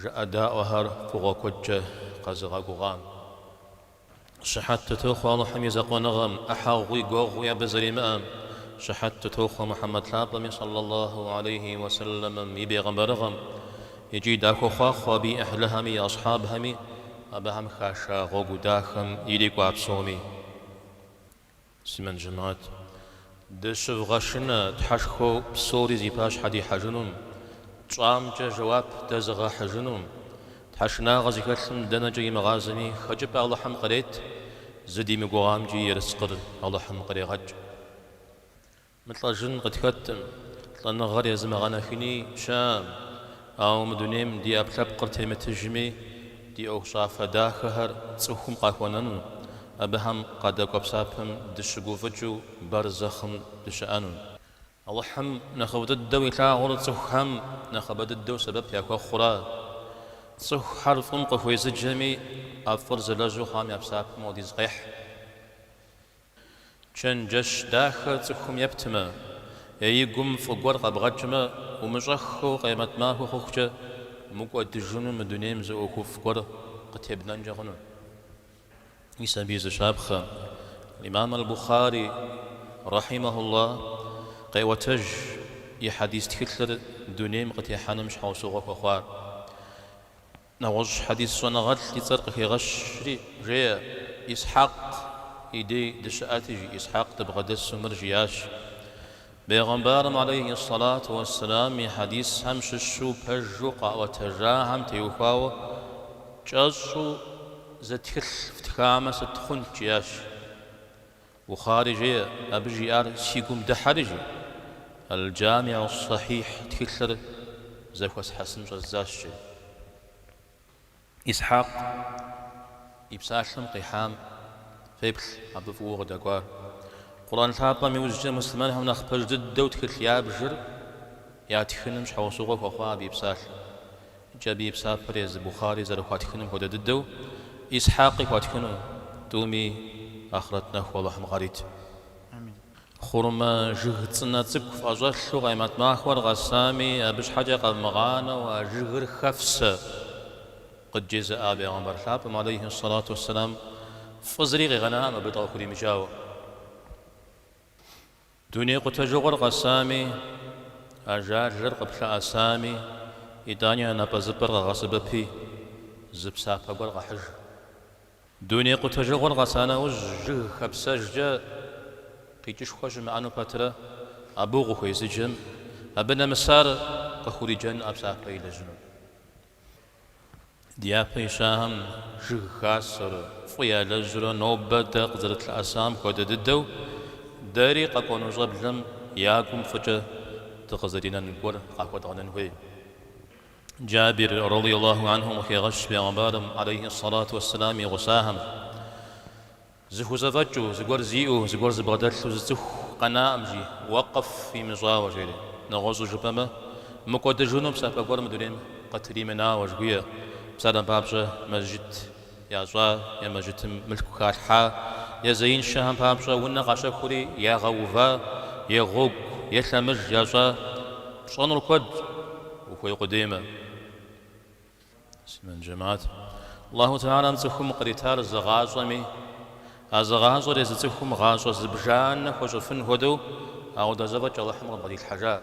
Жыӏэдаӏуэхэр фӏыгъуэ куэдкӏэ къэзыгъэгугъам. Щыхьэт дытохъуэ Алыхьым и Закъуэныгъэм, ӏыхьэгъуи гуэгъуи абы зэримыӏэм, Щыхьэт дытохъуэ Мухьэмэд Лъапӏэми сӏаллаллаху алейхи уэ сэлэмым и бегъымбэрыгъэм икӏи дахуохъуахъуэ абы и ӏыхьлыхэми и асхьабхэми, абыхэм хаша гъуэгу дахэм ирикӏуа псоми. Муслъымэн жэмаӏат, дыщывгъэшынэ тхьэшхуэу псори зи пащхьэ дихьэжынум, тщӏамкӏэ жэуап дэзыгъэхьыжыну, тхьэшынагъэ зыхэлъым дэнэкӏэ имыгъазэми хэкӏыпӏэ Алыхьым кърет, зыдимыгугъамкӏи ерыскъыр Алыхьым кърегъэкӏ. Мылӏэжын къытхэтӏым, лӏэныгъэр зымыгъэунэхуни щыӏэӏым, ауэ мы дунейм ди ӏэпкълъэпкъыр темытыжми, ди ӏуэхущӏафэ дахэхэр цӏыхум къахуэнэну, абыхэм къадэкӏуэ псапэм дыщыгуфӏыкӏыу барзэхъым дыщыӏэну. Алыхьым нэхъыфӏ дыдэу илъагъур цӏыхухэм нэхъыбэ дыдэу сэбэп яхуэхъура. Цӏыхухэр фӏым къыхуезыджэми, ӏэфӏыр зэлэжьу хъуам я псапэм хуэдиз къехь. Чэнджэщ дахэр цӏыхум ептмэ е и гум фӏы гуэр къэбгъэкӏмэ, умыщӏэххэу къемэт махуэ хъухукӏэ мыкӏуэдыжыну мы дунейм зы ӏуэхуфӏ гуэр къытебнэнкӏэ хъуну. Мис абы и зы щапхъэ аль-Имам Аль-Бухъари, рахьимэхулла, къеӏуэтэж и хьэдис тхылъыр дунейм къытехьэным щхьэусыгъуэ хуэхъуар. Нэгъуэщӏ хьэдис щӏэныгъэлӏ и цӏэр къыхегъэщри, жеӏэ, Исхьэкъ и дей дыщыӏэти, жи Исхьэкъ дыбгъэдэсу мыр жиӏащ, Бегъымбарым алейхи ссалату уэсселам и хьэдисхэм щыщу пэжу къаӏуэтэжахэм теухуауэ кӏэщӏу зы тхылъ фтхамэ сыт хъунт? жиӏащ. Бухъари жеӏэ, абы жиӏар си гум дыхьэри жеӏэ, Аль-Джамиӏу-ссахьихь тхылъыр зэхуэсхьэсын щӏэздзащ, жеӏэ. Исхьакъ и псалъэм къихьам феплъ абы фӏыуэ къыдэкӏуар. Къурӏэн лъапӏэм иужькӏэ муслъымэнхэм нэхъ пэж дыдэу тхылъ ябжыр ятхыным щхьэусыгъуэ хуэхъуа абы и псалъэм. Икӏи абы и псапэр езы Бухъари зэрыхуатхынум хуэдэ дыдэу, Исхьакъи хуатхыну, тӏуми ахърэт нэху Алыхьым къарит. Хъурмэ жыг цӏынэ цӏыкӏу фӏэщӏэлъу Къемэт махуэр къэсами, абы щхьэкӏэ къэвмыгъанэу а жыгыр хэфсэ, къыджезыӏа Бегъымбар лъапӏэм, алейхи ссалату уэсселам, фӏы зыри къигъэнаӏым абы дыкъыхуримыджауэ. Дуней къутэжыгъуэр къэсами, ажалыр къыплъэӏэсами, итӏани а напӏэзыпӏэр къэгъэсэбэпи, зы псапэ гуэр къэхьыж. Дуней къутэжыгъуэр къэса нэужь жыг хэпсэжкӏэ къикӏышхуэ щымыӏэну пэтрэ абы укъыхуезыджэм, абы нэмысар къыхуриджэнуӏэ псапэ илэжьыну. Дяпэ и щхьэхэм жыг хасэр, фӏы ялэжьар нобэ дэ къызэрытлъыӏэсам хуэдэ дыдэу, дэри къэкӏуэну щӏэблэм я гум фӏыкӏэ дыкъызэринэн гуэр къахуэдгъэнэн хуей. Джабир, радийаллаху анхум, къыхегъэщ Пэйгъэмбарым, алейхи ссэлату уэсселам, и гъусахэм, Зыхузэфӏэкӏыу, зыгуэр зиӏэу, зыгуэр зыбгъэдэлъу зы цӏыху къэнаӏым жи, уэкъыф имыщӏауэ, жери. Нэгъуэщӏу жыпӏэмэ, мыкӏуэдыжыну псапэ гуэр мы дунейм къытримынауэ, жыхуиӏэщ, псалъэм папщӏэ, мэжджыт ящӏа е мэжджытым мылъку халъхьа е зеиншэхэм папщӏэ унэ къащэхури ягъэува е гъуэгу е лъэмыж ящӏа, пщӏэнур куэдщ, ухуей къудеймэ. Аллаху тэхьэлам цӏыхум къритар зы гъащӏэми, а зы гъащӏэр езы цӏыхум гъащӏэ зыбжанэ хуэщӏыфын хуэдэу апхуэдэ зэфӏэкӏ Аллахьым къыбгъэдилъхьэжа.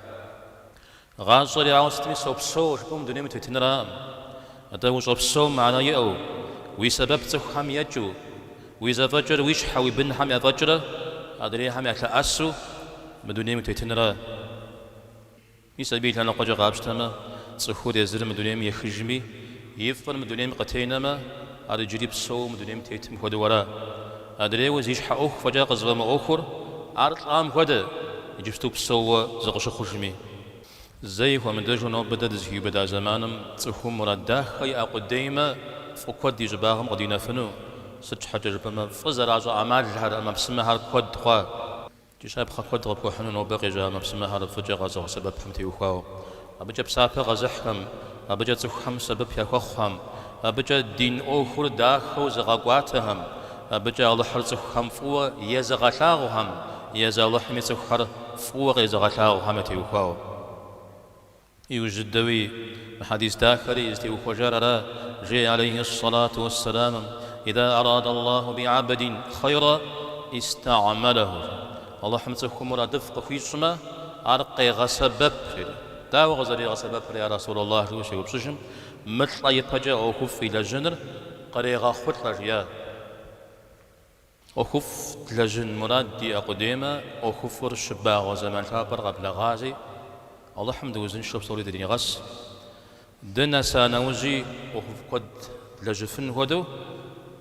Гъащӏэр ауэ сытми сопсэу жыпӏэу мы дунейм утетынраӏым. Атӏэ ущӏэпсэум мыхьэнэ иӏэу, уи сэбэп цӏыхухэм екӏыу, уи зэфӏэкӏыр уи щхьэ уи бынхэм яфӏэкӏрэ адрейхэм ялъэӏэсу мы дунейм утетынра. Псапэ и лъэныкъуэкӏэ къапщтэмэ, цӏыхур езыр мы дунейм ехыжми, и фӏыр мы дунейм къытенэмэ, ар иджыри псэууэ мы дунейм тетым хуэдэу ара. Адрейуэ зи щхьэ ӏуэху фӏэкӏа къызэфӏэмыӏуэхур, ар лӏам хуэдэ, иджыпсту псэууэ зыкъыщыхъужми. Зэи хуэмыдэжу нобэ дэ дызыхиубыда зэманым цӏыхум мурад дахэ иӏэ къудеймэ, фӏы куэд и щӏыбагъым къыдинэфыну, сыт щхьэкӏэ жыпӏэмэ фӏы зэращӏэ ӏэмалхэр, ӏэмэпсымэхэр куэд хъуа. Щапхъэ куэд къыпхуэхьыну нобэ къежьа ӏэмэпсымэхэр фӏыкӏэ къэзыгъэсэбэпхэм теухуауэ, абыкӏэ псапэ къэзыхьхэм, абыкӏэ цӏыхухэм сэбэп яхуэхъухэм, абыкӏэ дин ӏуэхур дахэу зыгъэкӏуатэхэм, абыкӏэ Алыхьыр цӏыхухэм фӏыуэ езыгъэлъагъухэм, езы Алыхьми цӏыхухэр фӏыуэ къезыгъэлъагъухэм ятеухуауэ. Иужь дыди хьэдис дахэри зытеухуэжар ара, жеӏэ алейхьи ссалату уэссэламым, Иза арада Аллаху би абдин хъайра, истагьмэлэху, Алыхьым цӏыхум мурадыфӏ къыхуищӏмэ, ар къегъэсэбэп, жери. Дауэ къызэригъэсэбэпыр, я Расул Аллахь, жыу щеупщӏыжым, мылӏэ ипэкӏэ ӏуэхуфӏ илэжьэныр кърегъэхъулӏэ, жиӏащ. ӏуэхуфӏ длэжьын мурад диӏэ къудеймэ, ӏуэхуфӏыр щыбагъуэ зэман лъапӏэр къэблэгъази, Алыхьым дыузыншэу псори дринигъэс. Дынэса нэужьи ӏуэхуфӏ куэд длэжьыфын хуэдэу,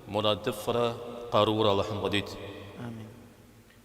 мурадыфӏрэ къарурэ Алыхьым къыдит. Амин.